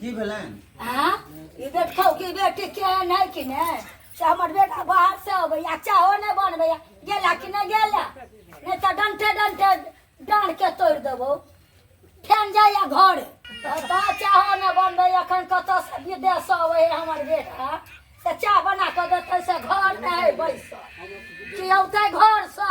की भेलनि आ ई देखौ कि बेटी के नहि कि ने से हमर बेटा बाहर से अबैया चाहो नहि बनबैया गेला कि नहि गेला नहि तऽ डंटे डंटे डाँड़ के तोड़ि देबौ फेन जाइया घर तऽ चाहो नहि बनबै एखन कतऽ से विदेश से अबै हमर बेटा से चाह बना कऽ देतै से घर नहि है बैसल कि औतै घर से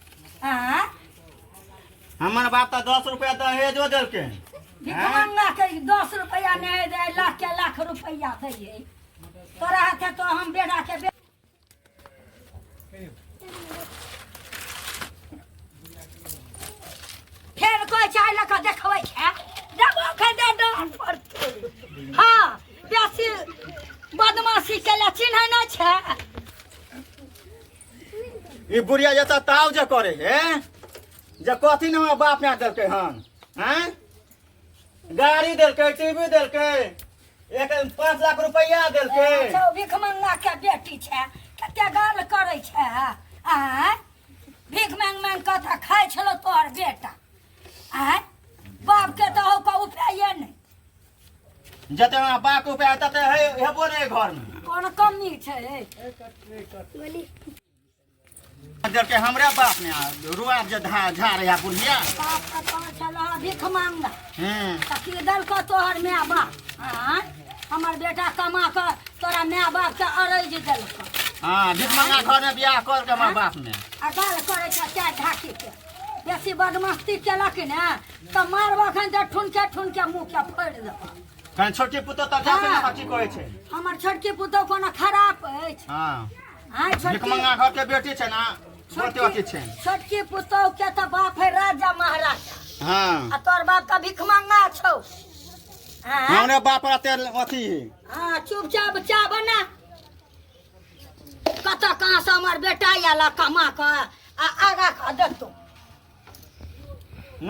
आँ हमर बाप तऽ दस रुपया दहेजो देलकै भिखमंगा के दस रुपया नहीं दे लाख के लाख रुपया दे है तोरा हाथे तो हम बेटा के बे... फेर कोई चाय लऽ कऽ देखबै छै देखो खदे डाल पर हाँ बेसी बदमाशी केला चिन्है नहि छै ई बुढ़िया जतऽ ताव जे करे हे जे कथी ने हमरा बाप माय देलकै हन हैं गाड़ी देलकै टीवी देलकै एक पाँच लाख रुपैआ देलकै अच्छा, ओ भीख मंगा के बेटी छै कते गाल करै छै आय भीख मांग मांग के तऽ खाइ छलो तोहर बेटा आय बाप के तऽ हो कऽ उपाये नहि जते हमरा बा के उपाय तते हे- हेबो ने एहि घर में कोनो कमी छै जब के हमरा बाप ने आ, रुआ जे धा झा रहा बुढ़िया बाप का तो छलह भिख मांगा हम्म तऽ की देलकौ तोहर माय बाप आँय? हमर बेटा कमा कऽ तोरा माय बाप के अरज देलकौ हाँ भीख मंगा घर में बियाह कर के हमरा बाप ने आ गाल करै छै चारि ढाकी के बेसी बदमस्ती केलक ने तऽ मारब अखन तऽ ठुनके ठुनके मुँहके फोड़ि देब तहन छोटकी पुतोह तऽ जाते हँ। ने बाकी कहै छै हमर छोटकी पुतोह कोनो खराब अछि हँ आँय छोटकी भिकमंगा घरके बेटी छै ने बहुते अथी छै छोटकी पुतोह के तऽ बाप है राजा महाराजा हँ आ तोर बाप तऽ भिखमंगा छौ आँय? हमरे बाप रहते अथी है हाँ चुपचाप चाह बना कतऽ कहाँ से हमर बेटा आयल कमा कऽ आ आगा कऽ देतौ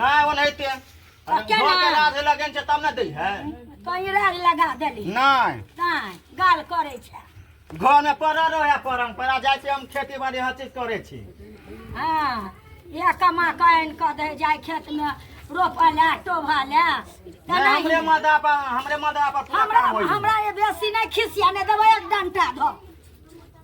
नहि ओनाहिते अरे केना? घर के राधे लगन छै तब ने दै है कहीं राग लगा देली नहि ताय गाल करे छै घर में पड़ल रहे परम्परा जाइ छै हम खेती बाड़ी हर चीज करै छी हाँ इएह कमा कऽ आनि कऽ दे जाय खेत में रोपऽ लए टोभऽ लए नहि, हमरे मदा पर हमरे मदा पर पूरा हमरा काम होइ हमरा ये बेसी नहि खिसिया नहि देबै एक डंटा धऽ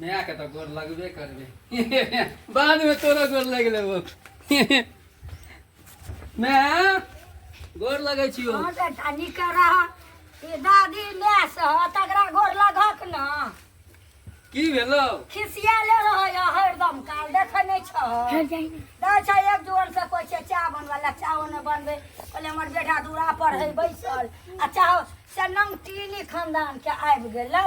माय के तो गोर लगबे करबे बाद में तोरा गोर लग लेबो माय गोर लगै छियो हँ तऽ तनी करा ई दादी माय से हँ तकरा गोर लगक न की भेलो खिसियाले रहै हँ हरदम काल देखै नहि छह दै छै एक दुआर से कोइ छै चाह बनबै ला चाहो नहि बनबै कहले हमर बेटा दूरा पर है बैसल आ चाहो से नंग टीली खानदान के आबि गेलै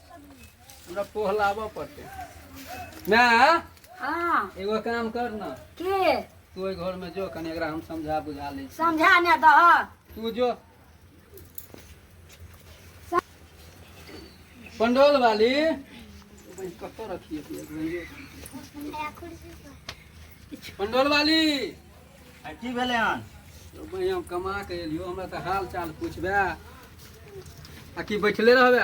हमरा पोह लाबऽ पड़तै ना हाँ एगो काम कर ना के तू ओहि घर में जो कनी एकरा हम समझा बुझा लै छी समझा ने दह तू जो पंडोल वाली भाई कतऽ रखिए तू एक भाई पंडोल वाली आ की भेलै हन ओ भाई हम कमा के एलियो हमरा तऽ हाल चाल पूछबे आ कि बैठले रहबे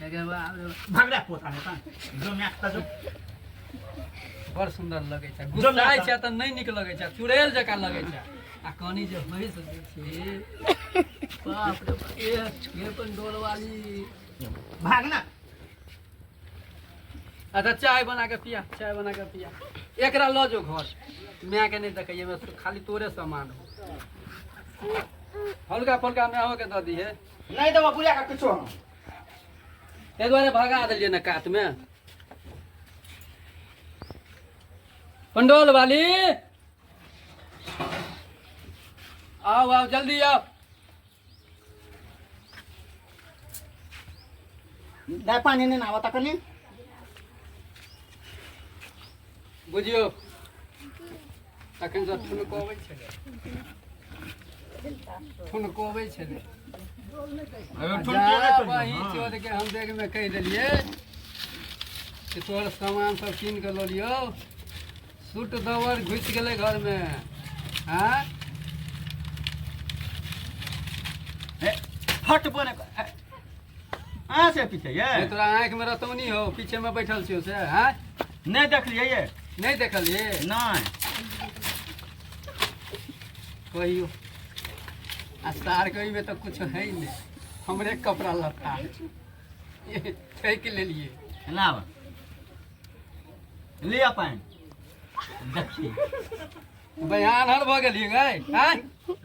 भागरा पोता है ता जो मैं आता जो बड़ सुंदर लगे छै जो मैं गुस्साइ छै त नै नीक लगे छै चुड़ैल जकाँ लगे छै आ कनी जे होइ से जे छै बाप रे बाप, ए ये अपन डोल वाली भागना अच्छा चाय बना के पिया चाय बना के पिया एकरा लऽ जो घर माय के नहि देखैए खाली तोरे सामान हो हल्का फुल्का माय के दऽ दिहे नहि देबो बुझा कऽ किछो हम ताहि दुआरे भगा देलियै ने कातमे पंडोल वाली आओ आओ जल्दी आओ दाय पानी नहि नाबऽ त कनी बुझियो तखन से ठुनकबै छलै ठुनकबै छलै जा बही चोर के हम देख में कह देलिए कि तोहर सामान सब कीन के लो लियो सूट दवर घुस गेले घर में हाँ फट बने अहाँ से पीछे ये तोरा आँख में रतौनी हो पीछे में बैठल छियो से हाँ नहि देखलियै ये नहि देखलियै नहि कहियो आ सार कहिमे तऽ कुछ है नहि हमरे कपड़ा लत्ता ठकि लेलियै एना बा। लिअ पानि देखियै बयान हर भऽ गेलियै गै आय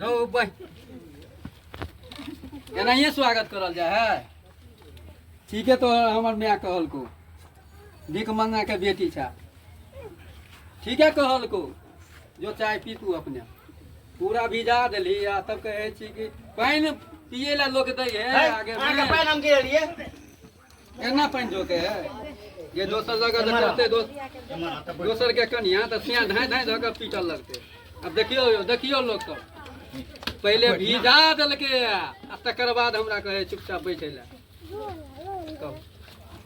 रौ बै एनाहिए स्वागत करल जाइ है ठीके तो हमर माय कहलको भीख मंगा के बेटी छा ठीक है कहल को जो चाय पी तू अपने पूरा भिजा दिली आ तब कहे छी कि पानि पिए ला लोग दै है है, आगे अहाँ के में। पानि हम गिरल ये केना पानि जोके है ये दोसर जगह जे करते दोस एम्हर आ तब दोसर के कनिया तऽ सिया धाय धाय धऽ कऽ पीटल लगते अब देखियो यौ, देखियो लोग सब पहिले भिजा देलकै आ तकर बाद हमरा कहे चुपचाप बैठे ला कहू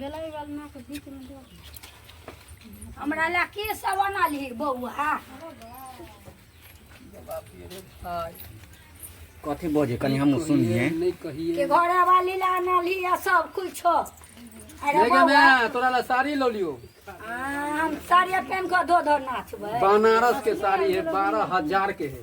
गेलै बलमा के बीच में दो हमरा ला के सब अनल हे बौआ कथी बजे कनी हम सुनिए नहीं कहिए के घर वाली ला अनल ही आ सब कुछ अरे नहीं बौआ गम्या तोरा ला साड़ी लो लियो आ, हम साड़ी पहन के धो धो नाचबै बनारस के साड़ी है बारह हजार के है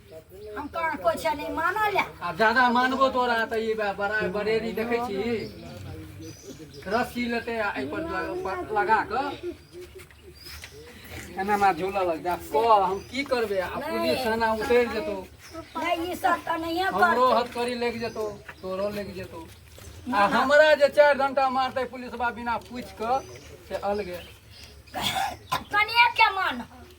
हम कहाँ कोइ छै नहि मानल है। आ ज्यादा मानबो तोरा तऽ ई बा- बड़ा बरेरी देखै छी रस्सी लेतै आ एहिपर ल- प- लगा कऽ एना हमरा झूलऽ लग जा कह हम की करबै आ पुलिस थाना उतरि जेतौ नहि ई सब तऽ नहिए हमरो करतै हथकड़ी लागि जेतौ तोरो लागि जेतौ आ हमरा जे चारि घंटा मारतै पुलिसबा बिना पूछि कऽ से अलगे कनिए के मान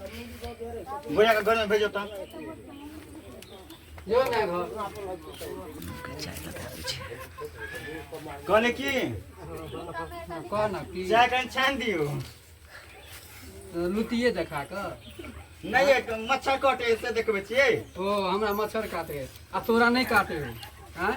भैया के घर में भेजो ता जो ना घर कहले की कह ना कि चाय कहीं छान दियो लुतिए देखा कऽ नहीं एक मच्छर कटे से देखबे छियै ओ हमरा मच्छर काटे आ तोरा नहि काटे हो आँय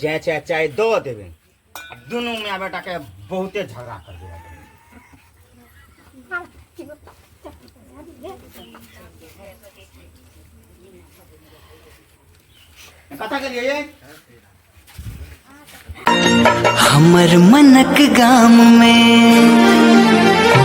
जय चाहे चाय दो देवे दोनों में बेटा के बहुते झगड़ा कर देगा कथा के लिए हमर मनक गाम में